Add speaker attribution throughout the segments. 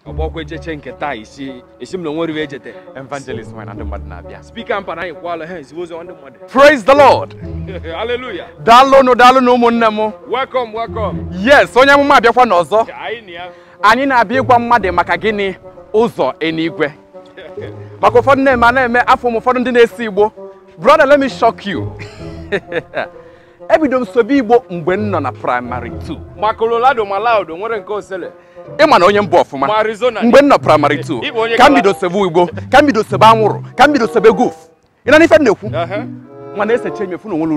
Speaker 1: ọ bụkwa echiche nke taa isi esi m na o nwere iwe echete evangelist nwanyị na
Speaker 2: ndị mmadụ na-abịa speaker mpa na anyị kwala
Speaker 1: ha ezigbo ụzọ ndị mmadụ praise the lord
Speaker 2: hallelujah
Speaker 1: daalụnụ daalụnụ
Speaker 2: ụmụnne m welcome welcome
Speaker 1: yes onye
Speaker 2: amụma abịakwa n'ọzọ Ka anyị na ya
Speaker 1: anyị na-abịa ịgwa
Speaker 2: mmadụ maka gịnị ụzọ eluigwe maka ụfọdụ na-eme a na-eme afọ m ụfọdụ ndị na-ese igbo brother let me shock you ebido m sebe igbo mgbe m nọ na primary 2 ma Colorado
Speaker 1: ma Loud o nwere nke osele ị ma na onye m
Speaker 2: bụ ọfụma ma Arizona mgbe m nọ primary 2 ka m bido sebe igbo ka m bido sebe anwụrụ ka m bido sebe goof ị na-anụ ife m na-ekwu mana esechaa m afụ na o nwerọ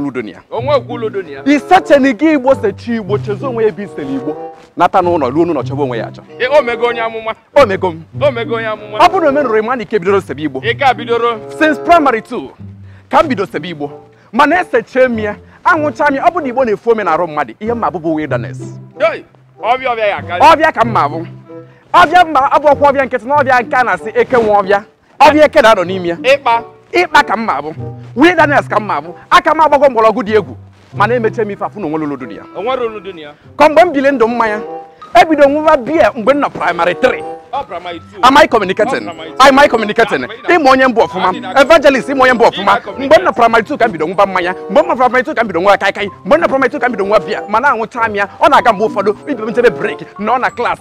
Speaker 2: ulu dị
Speaker 1: ya isecheni gị
Speaker 2: igbo sechaa igbo chezọ onwe ya ebe e sere igbo nata n'ụlọ ruo n'ụlọ chọba onwe ya achọ o mego onye
Speaker 1: amụma o mego m o
Speaker 2: mego onye amụma ọ bụrụ
Speaker 1: na o menụrọ ị ma na ị
Speaker 2: ka bidoro sebe igbo
Speaker 1: since primary 2
Speaker 2: ka m bido sebe igbo mana esechaa m ya aṅụchaa m ya ọ bụ na igbo na-efu ome n'arụ mmadụ ihe m ma-abụ bụ
Speaker 1: wilderness ọvịa ka m ma-abụ
Speaker 2: ọvịa m ma-abụrọkwa ọvịa nkịtị na ọvịa nke a na-asị eke nwe ọvịa ọvịa eke na-anọ n'ime ya ikpa ka m ma-abụ wilderness ka m ma-abụ aka m agbago mgbọrọgwụ dị egwu mana emechaa m ife afụ na o nwerọ ulu dị ya
Speaker 1: ka mgbe m bili
Speaker 2: ndụ mmanya ebido m ṅụwa biya mgbe m nọ primary 3 am I communicating? am I communicating? ị ma onye m bụ ọfụma evangelist ị ma onye m bụ ọfụma mgbe m nọ primary 2 ka m bido ṅụba mmanya mgbe m nọ primary 2 ka m bido ṅụwa kaikai mgbe m nọ primary 2 ka m bido ṅụwa biya mana aṅụchaa m ya ọ na-aga mgbe ụfọdụ ibe m jebe break m nọ na class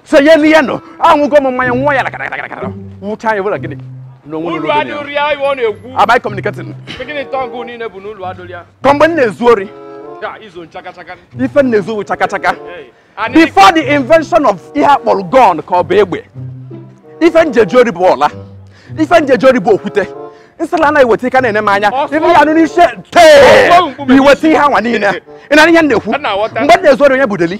Speaker 2: sonye n'ihe nọ aṅụgo m mmanya ṅụọ ya lakarakarakarakara ṅụchaa anya bụla gịnị am I communicating ka mgbe m na-ezu ori ife m na-ezu bụ chakachaka before the invention of ihe a kpọrọ gun ka ọ bụ egbe ife m ji eje ori bụ ọla ife m ji eje ori bụ okwute nsịla anaghị weta ị ka na-ene m anya ife ị ya-anụ n'isi tee i weta ihe anwa niile ị na-anụ ihe m na-ekwu mgbe m na-ezu ori o nwerọ ulu dị ya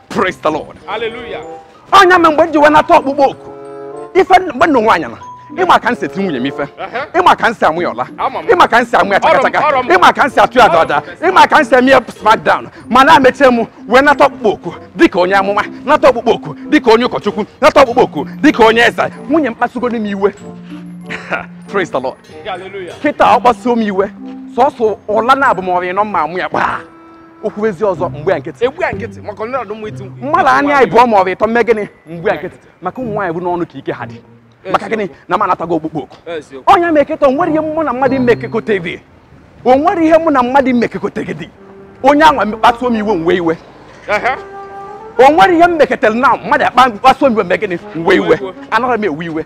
Speaker 2: praise the lord
Speaker 1: hallelujah onye ma mgbe
Speaker 2: m ji wee nata ọkpụkpọ oku ife mgbe m nụ nwaanyị na ị ma ka m si eti nwunye m ife ị ma ka m si ama ya ọla ị ma ka m si ama ya chakachaka ị ma ka m si atụ ya dọda ị ma ka m si eme ya smackdown mana emechaa m wee nata ọkpụkpọ oku dịka onye amụma nata ọkpụkpọ oku dịka onye ụkọchukwu nata ọkpụkpọ oku dịka onye eze nwunye m kpasugo nụ m iwe praise the lord kịta
Speaker 1: ọ kpasuo m
Speaker 2: iwe sọsọ ụla naabọ ma ọ rịa anọ m ma-ama ya gbaa o kwuezie ọzọ m gba ya nkịtị agba ya nkịtị maka ndị ọdụ
Speaker 1: mma iti mkpu mmadụ anya ịbụọ
Speaker 2: ma ọ bụ ịtọ m mee gịnị m gba ya nkịtị maka ụmụ nwaanyị bụ n'ọnụ ka ike ha dị maka gịnị na m anatago ọkpụkpọ oku eziokwu ọ nya mee kịta o nwere ihe mụ na mmadụ mmekekọta gị o nwere ihe mụ na mmadụ mmekekọta gị dị onye anwa kpasuo m iwe m wee iwe Ehe. o nwere ihe m meketara na mmadụ akpa kpasuo m iwe mee gịnị m wee iwe Iwe. anaghị m ewe iwe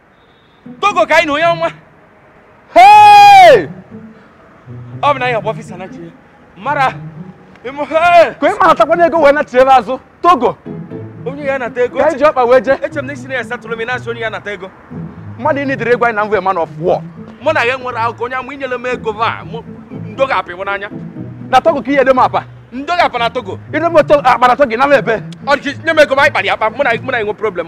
Speaker 1: togo ka anyị na onye ọma ọ bụ na anyị akpọ ọfịsa na chie
Speaker 2: mara ka ị mara takwana ego wee nachiere azụ togo onye ya
Speaker 1: nata ego ka e ji ọkpa wee jee eche
Speaker 2: m na isi na ya satụrụ m
Speaker 1: na-asị onye ya nata ego mmadụ ị
Speaker 2: nidere ego anyị na mvụ man of war mụ na ya nwere
Speaker 1: akụkọ onye amụ inyere m ego va ndo ga-apị m n'anya na togo ka ihe dị
Speaker 2: m apa ndo ga-apa na togo
Speaker 1: ịdị m akpara
Speaker 2: togo na m ebe ọ dị nye m ego ma
Speaker 1: anyị kpara ya akpa mụ na mụ na enwe problem